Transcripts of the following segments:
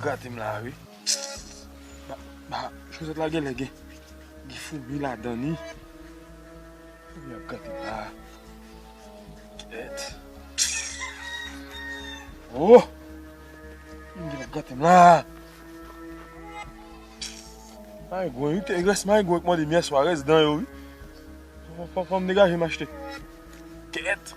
grate m la a wi. Ba chosèt la genlè gen foumi ladan li. Foumi ap grate m la a. Kèt. Oh! Foumi ap grate m la a. Maygwen wi, te rès maygwen k mande m yèswa, rès dan yo wi. Fò m degaje m achte. Kèt.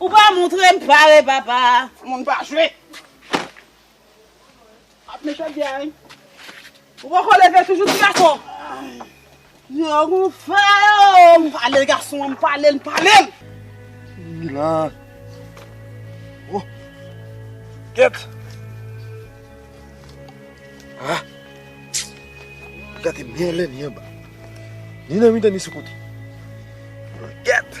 Ou pa moutrem pare papa. Moun pa jwe ak mechant bya wi. Ou poko leve toujou ti gason. Yo gon fè yo. M pale gason an m pale l pale l. Wi la oh gèt ah gate mèle ni anba ni nan mitan ni sou kote gèt.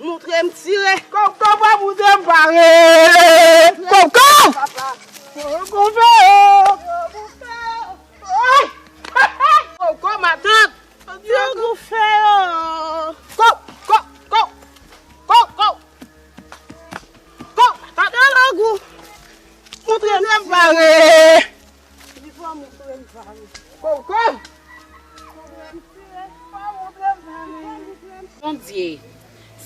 Moutre m tire. Koko pa moutre m pare. Koko. Koko fè yo. Koko matant. Koko fè yo. Koko. Koko. Koko. Koko matant. Koko. Moutre m pare. Li pa moun frèm pam. Kow kow. Bondye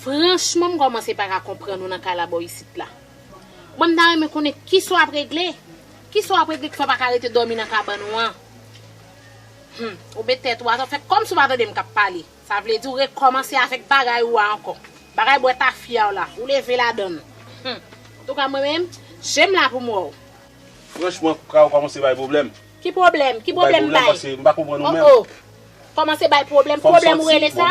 Franchman m kòmanse paka konprann ou nan kalabò isit la Mwen m ta renmen konnen kisa w ap regle Kisa w ap regle ki fè w paka rete dòmi nan kabann ou an Humm ou met tèt ou atò fè kòmsi w pa tande m k ap pale Sa vle di w rekòmanse avèk bagay ou a ankò Bagay bwè tafya w la ou leve ladann Humm Antouka mwen menm je m la pou m wè w. Franchman kpra ou komanse bay problème. Ki pwoblèm? Ki pwoblèm m bay? O o! Kòmanse bay pwoblèm, pwoblèm ou rele sa?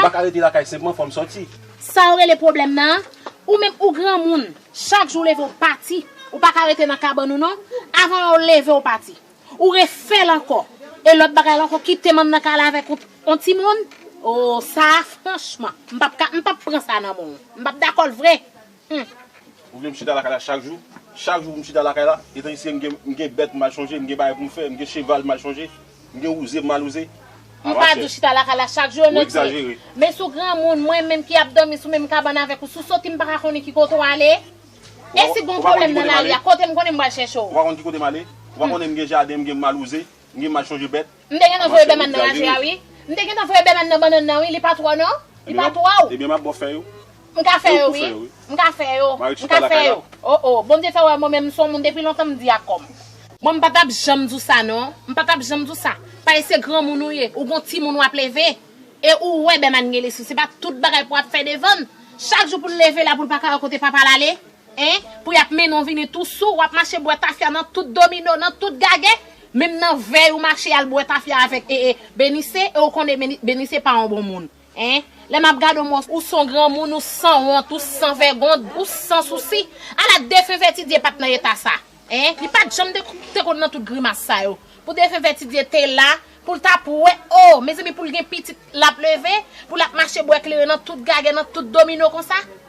Sa ou rele pwoblèm nan? Ou menm ou granmoun, chak jou ou leve ou pati, ou pa ka rete nan kabann ou non, avan lè ou leve ou pati. Ou refè l ankò, e lòt bagay la ankò kite manm nan ka ale avèk on timoun? O sa a franchman, m pap ka, m pap pran sa nan men w. M pap dakò l vre. Humm! Ou vle m chita lakay la chak jou? Chak jou pou m chita lakay la? Etan isye m gen m gen bèt m al chonje, m gen bagay pou m fè, m gen cheval m al chonje, m gen wouze m al wouze? M pa di w chita lakay la chak jou, Emetie. Men si w granmoun, mwen menm ki ap dòmi sou menm kabann avèk ou, si w soti m pa ka konnen ki kote w ale? E si gon pwoblèm nan lari a, kote m konnen m pral chèche w? Ou pa konnen ki kote m ale? Ou pa konnen m gen jaden, m gen m al wouze, m gen m al chonje bèt? M te gentan voye bèman nan laje a wi. M te gentan voye bèman nan bannann nan wi li pa twò non. Li pa twò ou. Ebyen map bò fè yo. M ka fè yo wi. M ka fè yo. M ka fè yo. Oh oh Bondye fè wè mwen menm m son moun depi lontan m di a kòm. Mwen m pa tap janm di w sa non. M pa tap janm di w sa. Pale se granmoun ou ye. Ou gon timoun wap leve. E ou wè bèman gen lespri se pa tout bagay pou ap fè devann. Chak jou poul leve la poul pa ka wè kote papal ale hein. Pou yap mennen w vini tou sou. Wap mache bwè tafya nan tout domino nan tout gagè. Menm nan vèy ou mache al bwè tafya avèk ee Benise e ou konnen Benise pa yon bon moun hein lè map gade w mwen ou son granmoun ou sanwont ou san vègond ou san sousi ala defen Vètidye pat nan eta sa hein li pat janm te konn nan tout grimas sa yo pou defen Vètidye te la poul ta pwè oo mezanmi poul gen pitit lap leve pou lap mache bwè kleren nan tout gagè nan tout domino konsa.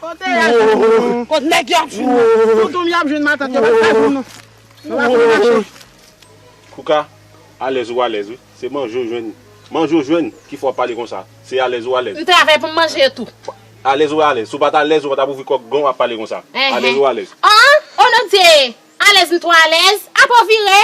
Kote yap jwenn nou. Kot nèg yo ap jwenn nou. Tontonm yo ap jwenn matant yo pat ka jwenn nou. Nou pa konn mache. Kouka alèz ou alèz wi se manje ou jwenn manje ou jwenn ki fè wap pale konsa se alèz ou alèz. M travay pou m manje yo tou. Alèz ou alèz si w pat alèz ou pa tap ouvri kòk gan w ap pale konsa alèz ou alèz. Anhan oh non Dye alèz m twò alèz apa w vire.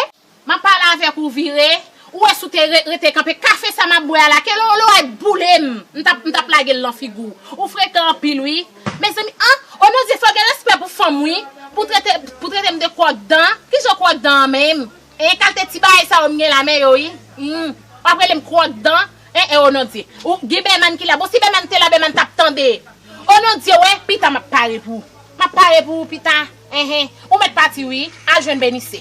Map pale avek ou vire. Ou wè si w te rete kanpe. Kafe sa map bwè a la kelo lo a t boule m m tap m tap lage l nan figu w. Ou frekan anpil wi. Mezanmi anh o non dye fò gen respè pou fanm wi pou trete pou trete m de kwòk dan kijan kwòk dan an menm hein kalte ti bagay sa yo m gen la men yo wi humm wap rele m kwòk dan hein eh o non dye ou gen Beman ki la bon si Beman te la Beman tap tande o non dye wè pita map pare pou map pare pou ou pita hein hein ou mèt pati wi al jwenn Benise.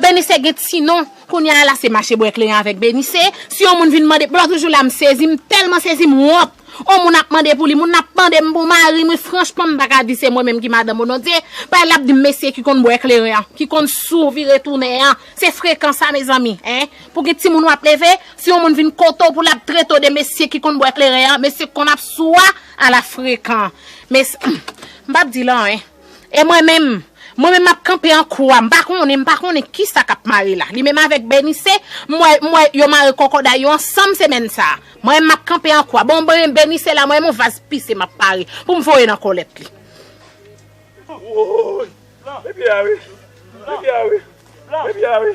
Benise gen ti non Kounye a la se mache bwè kleren avèk Benise Si yon moun vin mande poul toujou la m sezi m tèlman sezi m wont On moun ap mande pou li moun nan ap mande m pou mari m wi franchman m paka di se mwen menm ki madanm Onodie Bay lap di m mesye ki konn bwè kleren an ki konn sou vire tounen an se frekan sa mezanmi hein pou gen timoun wap leve si yon moun vin kote w pou lap trete w de mesye ki konn bwè kleren an mesye ki konn ap sou a ala frekan mes m pap di l anyen. E mwen menm? Mwen menm map kanpe an kwa, m pa konnen, m pa konnen kisa kap mare la. Li menm avèk Benise, m wè, m wè yo mare kòkòday yo ansanm semèn sa a. Mwen menm map kanpe an kwa. Bon, ben, Benise la, mwen menm yon vaz pise map pare pou m voye nan kòlèt li. Woy! Blan! Blan! Blan! Blan!